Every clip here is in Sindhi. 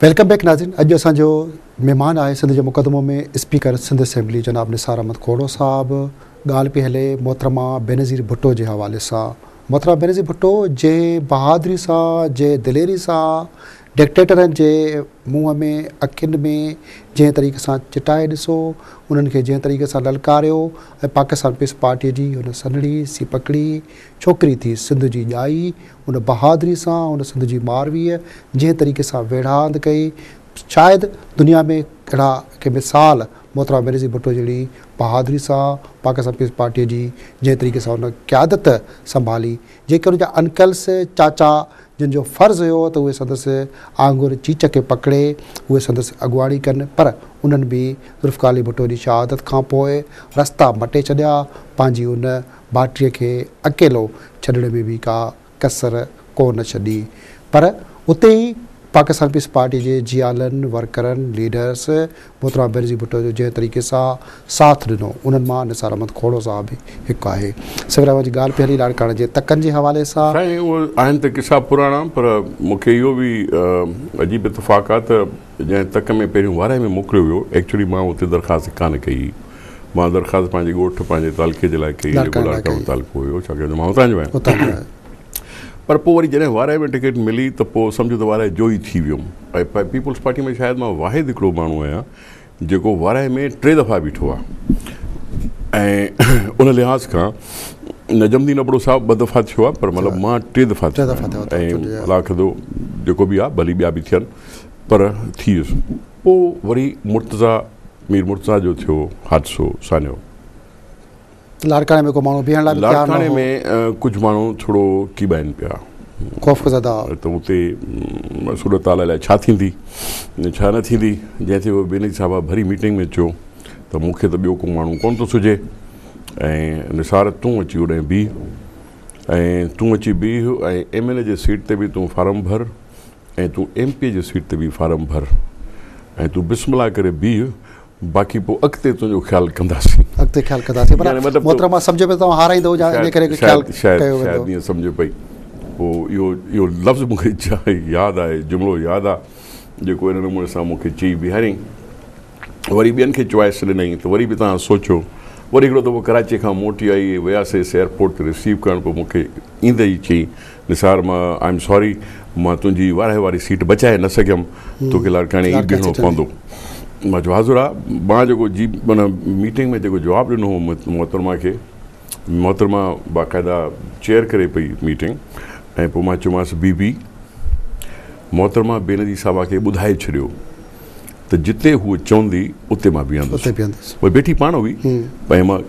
ويلڪم بيڪ ناظرين اڄ اسان جو مهمان آهي سنڌ جو مقدمو ۾ اسپيڪر سنڌ اسيمبلي جناب نثار احمد کوڙو صاحب ڳالهه پي هلي محترمه بينظير ڀٽو جي حوالي سان محترمه بينظير ڀٽو جنهن بهادري سان جنهن دليري سان ڊڪٽيٽرن جي منهن ۾ اکين ۾ جنهن طريقي سان چٽائي ڏسو، انهن کي جنهن طريقي سان للڪاريو ۽ پاڪستان پيس پارٽيء جي هن سنهڙي سي پڪڙي ڇوڪري ٿي سنڌ جي ڄائي، ان بهادري سان هن سنڌ جي مارويء جنهن طريقي سان ويڙهاند ڪئي، شايد دنيا ۾ اهڙا ڪي مثال محترمه بينظير ڀٽو جهڙي بهادري سان پاڪستان پيس پارٽيء جي جنهن طريقي سان هن قيادت سنڀالي، جيڪر هن جا انڪلس، چاچا، جن جو فرض هيو ته اهي سندس آڱر چيچ کي پڪڙي اهي سندس اڳواڻي ڪن پر انهن به ذوالفقارعلي ڀٽو جي شهادت کان پوء رستا مٽي ڇڏيا، پنهنجي ان ڀاٽيء کي اڪيلو ڇڏڻ ۾ به ڪا ڪسر ڪو نه ڇڏي پر اتي ئي. پاڪستان پيپلز پارٽي جي جيالن، ورڪرن، ليڊرز محترمه بينظير ڀٽو جو جنهن طريقي سان ساٿ ڏنو، انهن مان نثار احمد کهڙو صاحب به هڪ آهي. سمير احمد جي ڳالهه پئي هلي لاڙڪاڻي جي تڪن جي حوالي سان. سائين اهي آهن ته قصا پراڻا پر مون کي اهو به عجيب اتفاق آهي ته جنهن تڪ ۾ پهريون وارهي ۾ موڪليو ويو ايڪچوئلي مان اتي درخواست ڪانه ڪئي هئي. مان درخواست پنهنجي ڳوٺ پنهنجي تعلقي جي لاء ڪئي هئي جيڪو لاڙڪاڻو تعلقو هيو ڇاڪاڻ جو مان هتان جو آهيان. پر پوء وري جڏهن وارهي ۾ ٽڪيٽ ملي ته پوء سمجهه ته وارهي جوئي ٿي ويم ۽ پيپلز پارٽي ۾ شايد مان واحد هڪڙو ماڻهو آهيان جيڪو وارهي ۾ ٽي دفعا بيٺو آهي ۽ ان لحاظ کان نجمدين ابڙو صاحب ٻه دفعا ٿيو آهي پر مطلب مان ٽي دفعا ٿيو آهيان ۽ الله کدو جيڪو به آهي ڀلي ٻيا به ٿين پر ٿي ويس پوء وري مرتضيٰ مير مرتضيٰ جو ٿيو حادثو سانحو لاڙڪاڻي ۾ ڪو ماڻهو بيهڻ لاء به تيار نه هو. لاڙڪاڻي ۾ ڪجهه ماڻهو ٿورو ڪيٻائين پيا. خوفزده هئا. ته اتي صورت حال الائي ڇا ٿيندي ۽ ڇا نه ٿيندي، جنهن تي بينظير صاحب ڀري ميٽنگ ۾ چيو ته مون کي ته ٻيو ڪو ماڻهو ڪونه ٿو سجهي ۽ نثار تون اچي اوڏانهن بيهه ۽ تون اچي بيهه ۽ ايم اين اي جي سيٽ تي به تون فارم ڀر ۽ تون ايم پي اي جي سيٽ تي به فارم ڀر ۽ تون بسم الله ڪري بيهه باقي پوء اڳتي تنهنجو خيال ڪنداسين. اڳتي خيال ڪنداسين پر محترمه سمجهيو پئي ته توهان هارايندؤ جا ان ڪري خيال ڪيو ويندو. شايد شايد ائين سمجهيو پئي. پوء اهو اهو لفظ مون کي ياد آهي جملو ياد آ جيڪو ان نموني سان مون کي چئي بيهاريائين. وري ٻين کي چوائس ڏنائين ته وري به توهان سوچو. وري هڪڙو دفعو ڪراچيء کان موٽي آئي وياسيس ايئرپورٽ تي رسيو ڪرڻ پوء مون کي ايندي ئي چيائين نثار مان آء ايم ساري مان تنهنجي وارهي واري سيٽ بچائي نه سگهيم توکي لاڙڪاڻي ئي بيهڻو پوندو مان چيو حاضر آء مان جيڪو جي معنيٰ ميٽنگ ۾ جيڪو جواب ڏنو هو محترمه کي محترمه باقاعده چيئر ڪري پئي ميٽنگ ۽ پوء مان چيومانس بي بي محترمه بينظير صاحبه کي ٻڌائي ڇڏيو ته جتي هوء چوندي اتي مان بيهندس. اتي بيهندس. هوء بيٺي پاڻ هئي ۽ مان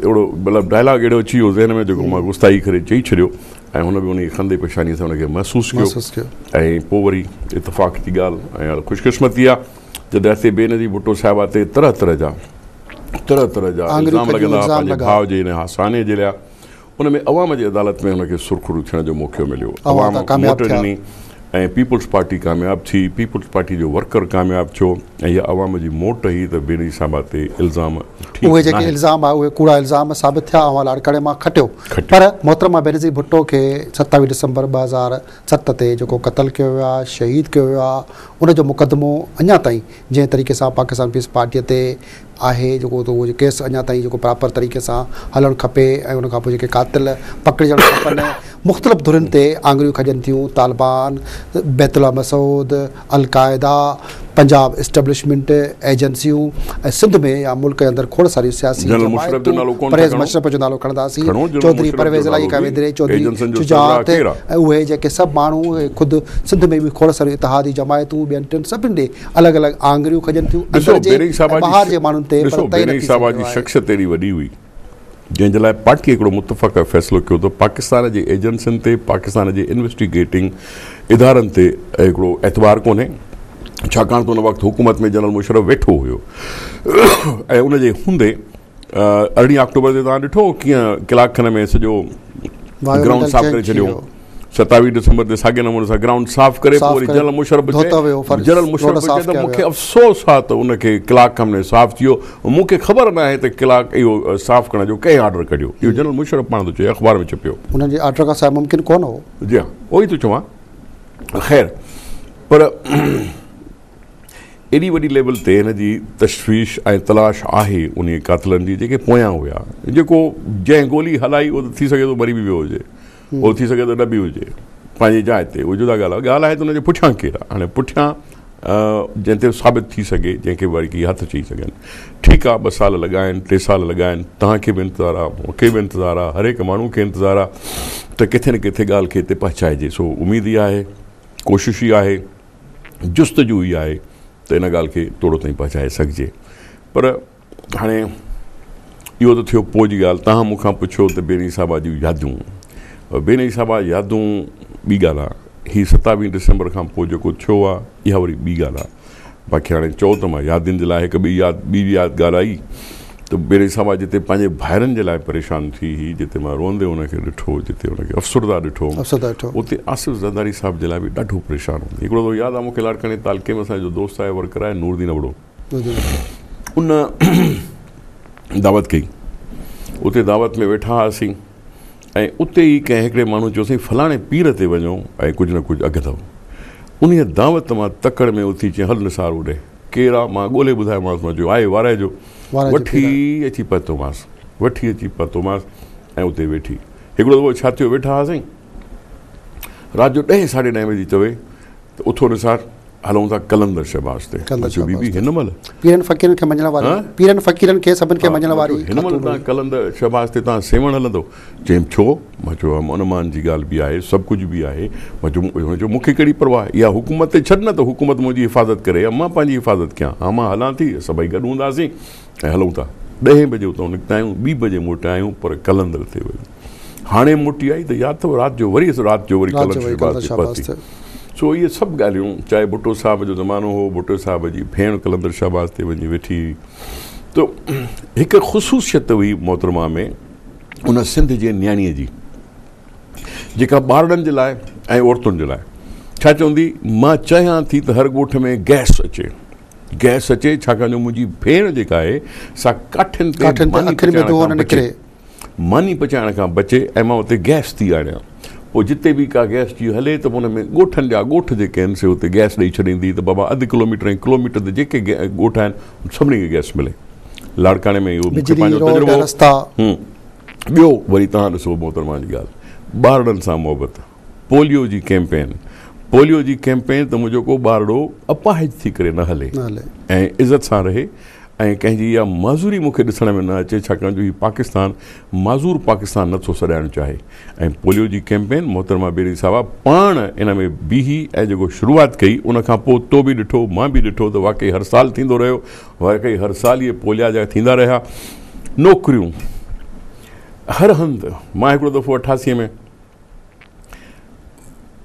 اهڙو مطلب ڊائلاگ اهڙو اچي ويو ذهن ۾ جيڪو مان غصائي ڪري چئي ڇڏيو ۽ هن به انهيء خندي پيشانيء سان ان کي محسوس ڪيو محسوس ڪيو. ۽ پوء وري اتفاق جي ڳالهه ۽ هر خوش قسمتي آ جڏهن هتي بينظير ڀٽو صاحبه تي طرح طرح جا طرح طرح جا آڱريون الزام کڄيون لڳندا هئا الزام پنهنجي لڳا. ڀاء جي هن هاساني جي لئه ان ۾ عوام جي عدالت ۾ هن کي سرخرو ٿيڻ جو موقعو مليو، عوام ووٽ ڏني ۽ پيپلز پارٽي ڪامياب ٿي، پيپلز پارٽي جو ورڪر ڪامياب ٿيو ۽ اها عوام جي موٽ هئي ته بينظير صاحب تي الزام ٺيڪ ناهن. اهي جيڪي الزام آهي اهي ڪوڙا الزام ثابت ٿيا اوهان لاڙ ڪڙي مان کٽيو پر محترمه بينظير ڀٽو کي ستاويهه ڊسمبر ٻه هزار ست تي جيڪو قتل ڪيو ويو آهي شهيد ڪيو ويو آهي ان جو مقدمو اڃا تائين جنهن طريقي سان پاڪستان پيپلز پارٽي تي آهي جيڪو اتي اهو ڪيس اڃا تائين جيڪو پراپر طريقي سان هلڻ کپي ۽ ان کانپوء جيڪي قاتل پڪڙجڻ کپن مختلف ڌرين تي آڱريون کڄن ٿيون Taliban Baitullah Masood al Qaeda Punjab establishment ايجنسيون ۽ سنڌ ۾ يا ملڪ جي اندر کوڙ ساريون سياسي جنرل مشرف جو جماعتون نالو ڪونه ٿا پرهيز کڻو مشرف جو نالو کڻنداسين کڻو جنرل چوڌري مشرف جو پرويز علائي نالو کان به ويندري چوڌري ايجنسن جو سربراهه شجاعت ڪير آ؟ ۽ اهي جيڪي سڀ ماڻهو اهي خود سنڌ ۾ به کوڙ ساريون اتحادي جماعتون ٻين ٽن سڀني ڏي الڳ الڳ آڱريون کڄن ٿيون اندر جي ۽ ٻاهر جي ماڻهن تي پر طئي نه ٿي سگهيو آهي. شخصيت اهڙي وڏي هئي جنهن جي لاء پارٽيء هڪڙو متفقه فيصلو ڪيو ته پاڪستان جي ايجنسين تي پاڪستان جي انويسٽي گيٽنگ ادارن تي هڪڙو اعتبار ڪونهي ڇاڪاڻ ته ان وقت حڪومت ۾ جنرل مشرف ويٺو هيو ۽ ان جي هوندي ارڙهين آڪٽوبر تي توهان ڏٺو هو ڪيئن ڪلاڪ کن ۾ سڄو گرائونڊ صاف ڪري ڇڏيو هو. ستاويهه ڊسمبر تي ساڳئي نموني سان گرائونڊ صاف ڪري پوء وري جنرل مشرف به چئي جنرل مشرف به چئي ته مون کي افسوس آهي ته ان کي ڪلاڪ کن ۾ صاف ٿي ويو مون کي خبر ناهي ته ڪلاڪ اهو صاف ڪرڻ جو ڪنهن آرڊر ڪڍيو اهو جنرل مشرف پاڻ ٿو چئي اخبار ۾ ڇپيو هن جي آرڊر کان سواء ممڪن ڪونه هو جي ها اهو ئي ٿو چوان خير پر ايڏي وڏي ليول تي هن جي تشويش ۽ تلاش آهي ان قاتلن جي جيڪي پويان هيا جيڪو جنهن گولي هلائي اهو ته ٿي سگهي ٿو مري به ويو هجي هو ٿي سگهي ته ڏبي هجي پنهنجي جاء تي اهو جدا ڳالهه آهي ڳالهه آهي ته ان جي پٺيان ڪير آهي هاڻي پٺيان جنهن تي ثابت ٿي سگهي جنهن کي وري ڪي هٿ چئي سگهن ٺيڪ آهي ٻه سال لڳائين ٽي سال لڳائين توهان کي به انتظار آهي مون کي به انتظار آهي هر هڪ ماڻهو کي انتظار آهي ته ڪٿي نه ڪٿي ڳالهه کي هتي پهچائجي سو اميد ئي آهي ڪوشش ئي آهي جستجو ئي آهي ته ان ڳالهه کي توڙو تائين پهچائي سگهجي پر هاڻي اهو ته ٿيو پوء جي ڳالهه، توهان مون کان پڇيو ته بيني صاحبه جون يادون، بيني صاحبه يادون ٻي ڳالهه آ، هي ستاويهه ڊسمبر کان پوء جيڪو ٿيو آ، اها وري ٻي ڳالهه آ، باقي هاڻي چئو ته مان يادين جي لاء هڪ ٻئي ياد ٻي به ياد ڳالهائي ته بيني صاحبه جتي پنهنجي ڀائرن جي لاء پريشان ٿي هئي، جتي مان روئندي ان کي ڏٺو، جتي ان کي افسرده ڏٺو هوم، اتي آصف زرداري صاحب جي لاء به ڏاڍو پريشان هوندي. هڪڙو دفعو ياد آ مون کي لاڙڪاڻي تعلقي ۾ اسان جو دوست آهي ورڪر آهي نوردين ابڙو، ان دعوت ڪئي اتي دعوت ۾ ويٺا هئاسين ۽ اتي ئي ڪنهن هڪڙي ماڻهو چيوسين فلاڻي پير تي وڃو ۽ ڪجهه نه ڪجهه اگهه اٿو ان دعوت مان تڪڙ ۾ اٿي چيائين هل نثار اوڏي ڪير آ مان ڳولهي ٻڌايومانس مان چيو آهي وارائي جو وٺي اچي پهتومانس وٺي اچي پهتومانس ۽ اتي ويٺي هڪڙو دفعو ڇا ٿيو ويٺا هئاسين رات جو ڏهين ساڍي ڏهين بجي چوي ته اٿو نثار هلون ٿا قلندر شهباز تي. قلندر شهباز تي. هن مهل. پيرن فقيرن کي مڃڻ واري. ها. پيرن فقيرن کي سڀن کي مڃڻ واري. هن مهل تان قلندر شهباز تي تان سيوهڻ هلندو. چيم ڇو؟ مان چيو امن امان جي ڳالهه به آهي سڀ ڪجهه به آهي. مان چيم هن چيو مون کي ڪهڙي پرواهه اها حڪومت تي ڇڏ نه ته حڪومت منهنجي حفاظت ڪري يا مان پنهنجي حفاظت ڪيان ها مان هلان ٿي سڀئي گڏ هونداسين ۽ هلون ٿا. ڏهين بجي اتان نڪتا آهيون ٻي بجي موٽيا آهيون پر قلندر تي وڃي. هاڻي موٽي آئي ته يا ته رات جو وري رات جو وري ڪلن شهباز تي پهتي سو اهي سڀ ڳالهيون چاهي ڀٽو صاحب جو زمانو هو ڀٽو صاحب جي ڀيڻ قلندر شهباز تي وڃي ويٺي هئي ته هڪ خصوصيت هئي محترمه ۾ ان سنڌ جي نياڻيء جي جيڪا ٻارڙن جي لاء ۽ عورتن جي لاء ڇا چوندي مان چاهيان ٿي ته هر ڳوٺ ۾ گئس اچي گئس اچي ڇاڪاڻ جو منهنجي ڀيڻ جيڪا آهي سا ڪاٺين تي ماني پچائڻ کان بچي ۽ مان اتي گئس ٿي آڻيان. پوء جتي به ڪا گئس جي هلي ته ان ۾ ڳوٺن جا ڳوٺ جيڪي آهن سي اتي گئس ڏئي ڇڏيندي ته بابا اڌ ڪلوميٽر ۽ ڪلوميٽر تي جيڪي ڳوٺ آهن ان سڀني کي گئس ملي. لاڙڪاڻي ۾ اهو مون کي پنهنجو تجربو هو. ٻيو وري توهان ڏسو محترمه جي ڳالهه ٻارڙن سان محبت. پوليو جي ڪيمپين پوليو جي ڪيمپين ته منهنجو ڪو ٻارڙو اپاهج ٿي ڪري نه هلي ۽ عزت سان رهي ۽ ڪنهن جي اها معذوري مون کي ڏسڻ ۾ نه اچي ڇاڪاڻ جو هي پاڪستان معذور پاڪستان نه ٿو سڏائڻ چاهي ۽ پوليو جي ڪيمپين محترمه بيري صاحبه پاڻ ان ۾ بيهي ۽ جيڪو شروعات ڪئي ان کان پوء تو به ڏٺو مان به ڏٺو ته واقعي هر سال ٿيندو رهيو واقعي هر سال اهي پوليا جا ٿيندا رهيا نوڪريون هر هنڌ مان هڪڙو دفعو اٺاسي ۾